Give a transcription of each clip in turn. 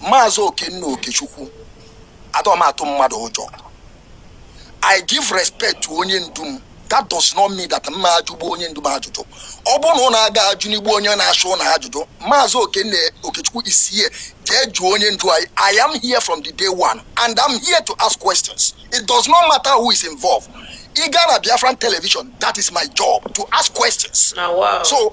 Maazị Okenna Okechukwu adọ m atụ mmadụ ụjọ I give respect to onye ndu m that does not mean that m ma ajụ bụ onye ndu m ajụjụ ọ bụrụ na ụnụ aga ajụni bụ onye na-achị ụnụ ajụjụ maazị Okenna Okechukwu is here jee jụọ onye ndu anyị I am here from the day one and I'm here to ask questions it does not matter who is involved ị gaa na Biafran television that is my job to ask questions so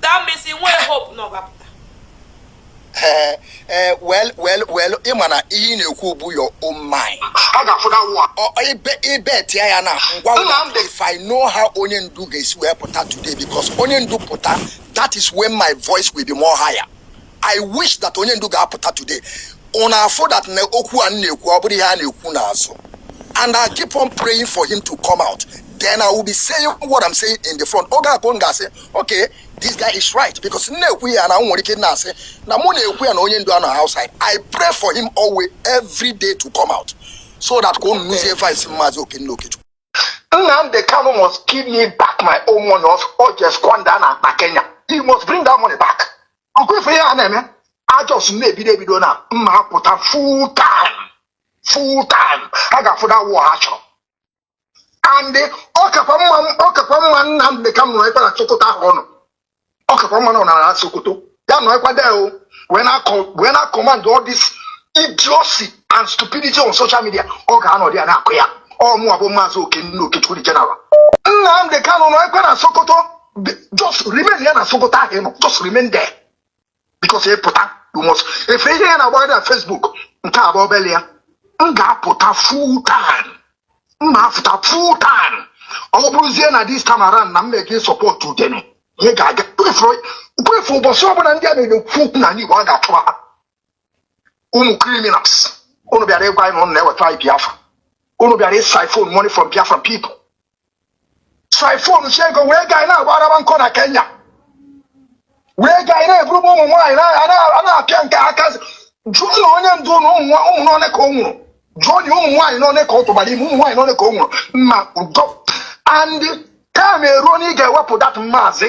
that means ị nwere hope na ọ ga-apụta ee eh, ee eh, wel wel wel ị ma na ihe ị na-ekwu bụ your own mind a ga-afụda nwa ibe ibe tịa ya na ngwa ngwa if i know how onye ndu ga-esi wee pụta today because onye ndu pụta that is when my voice will be more higher I wish that onye ndu ga-apụta today unu afụ that na okwu a m na-ekwu ọ bụrọ ihe a na-ekwu n'azụ and I keep on praying for him to come out then I will be saying what I'm saying in the front oge a ka unu ga-asị okay this guy is right because m na-ekwu ya unu nwere ike na-asị na mụ na-ekwu ya na onye ndu anọ outside I pray for him always every day to come out so that ka unu nụzie voice maazị Okenna Okechukwu Nnamdi Kanu must give me back my own money o o jee squander na na Kenya. He must bring that money back. Ọ kwa ife ya na-eme a just na-ebido ebido na m ma apụta full time full time ha ga-afụ that war ha chọrọ. And ọ kakwa mma ọ kakwa mma Nnamdi Kanu nọrọ na Sokoto ahụ ọ nọ. ọ kakwa mma na ọ nọrọ na sokoto ya nọkwa there o wee na-akọ wee na-acommand all this idiocy and stupidity on social media ọ ga-anọdụ ya na-akọ ya ọ mụwa bụ maazị okenna okechukwu the general nnamdị kanụ nọrọkwa na sokoto Be- just remainia na sokoto ahụ ị nọ just remain there because ị pụta rumọs efe ihe ya na-agbagharị na Facebook nke a bụ obele ya m ga-apụta full time m na-apụta full time ọ bụrụzie na this time around na m na-eje ịsupport udene ihe ga-aga kwefu ụbọchị ọbụla ndị a na-ekwu okwu n'ala Igbo a ga-achụwa ha unu criminals unu bịara ịgwa anyị na unu na-eweta anyị Biafra unu bịara ịsiphon money from Biafra people siphonsịa ego wee gaa na-agbarawa nkọ na kenya wee gaa na-eburu ụmụ nwaanyị a na-apịa nke aka jụọnụ onye ndu unu ụmụ n'one ka o nweru jụọnụ ụmụ nwaanyị n'one ka ọ tụbara ime ụmụ nwaanyị n'one ka o nweru ma udo and time eruo na ị ga-ewepụ that maazị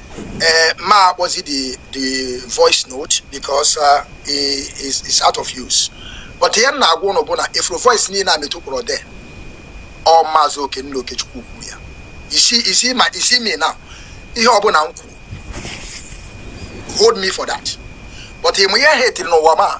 Uh, m ma akpọzi the the voice note because uh, is is out of use but ihe m na-agwa ụnụ bụ na ị fụrụ voice niile Metu kpọrọ there ọ maazị okenna okechukwu kwuru ya you see you see me now ihe ọbụla m kwuru hold me for that but ịmụ ihe ha etiri n'ụwa ma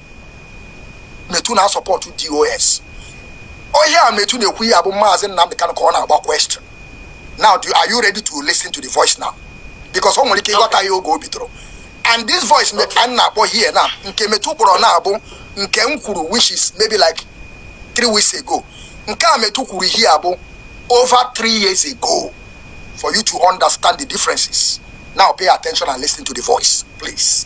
Metu na-asọpọtụ DOS onye a Metu na-ekwu ihe a bụ maazị Nnamdi Kanu ka ọ na-agba question now do, are you ready to listen to the voice now because o nwere ike ịghọta ya oge o bidoro and this voice m a na-akpọ here na nke Metu kpọrọ na ọ bụ nke m kwuru which is maybe like three weeks ago nke Metu kwuru ihe a bụ over three years ago for you to understand the differences now pay attention and listen to the voice please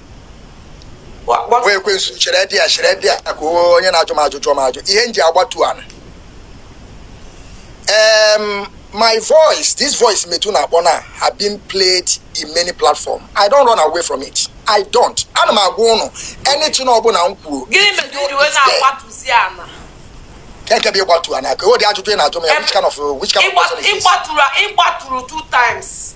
nwa ekwensu chere dị ya chere dị ya ka onye na-ajụ m ajụ jụọ m ajụ ihe m ji agbatu ana um, my voice this voice Metu na-akpọ na have been played in many platforms i don't run away from it i don't ana m agwa ụnụ anything ọbụna m kwuru kee ebe ịgbatu ana ka o dị ajụjụ ị na-ajụ m ya which kind of which kind of person is this? ịgbatụrụ two times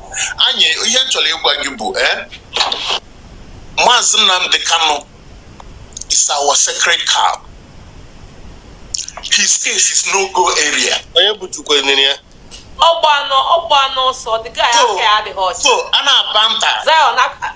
anyị ihe m chọrọ ịgwa gị bụ eh, maazị Nnamdi Kanu is our sacred cow his case is no go area onye bụjukwa enyere ya ọgba anụ ọgba anụ ọsọ dịka ya aka ya adịghị ọcha so a na-aba nta maazị Nnamdi Ka-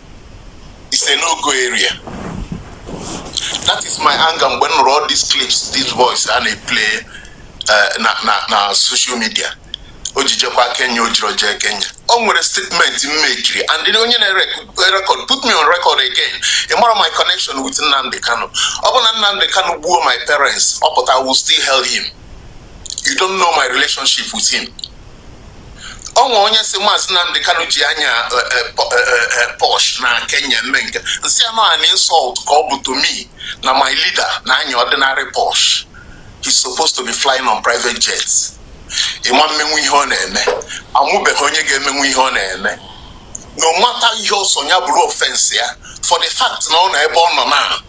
is a no-go area that is my anger mgbe m nụrụ all these clips these voice a na-eplay eh, na na na social media o ji jekwa Kenya o jiri jee Kenya o nwere statement m mekiri and then onye na-record put me on record again ị marọ my connection with Nnamdi Kanu ọbụna Nnamdi Kanu gbuo my parents ọ pụta I will still hail him you don't know my relationship with him o nwe onye sị maazị Nnamdi Kanu ji anya eh, eh, eh, Porsche na Kenya eme nke a m sị ya na an insult ka ọ bụ to me na my leader na-anya ordinary Porsche he's supposed to be flying on private jets ị ma emenwu ihe ọ na-eme a mụbeghị onye ga-emenwu ihe ọ na-eme no matter ihe ọ sọ ya bụrụ offence ya for the fact na ọ nọ ebe ọ nọ na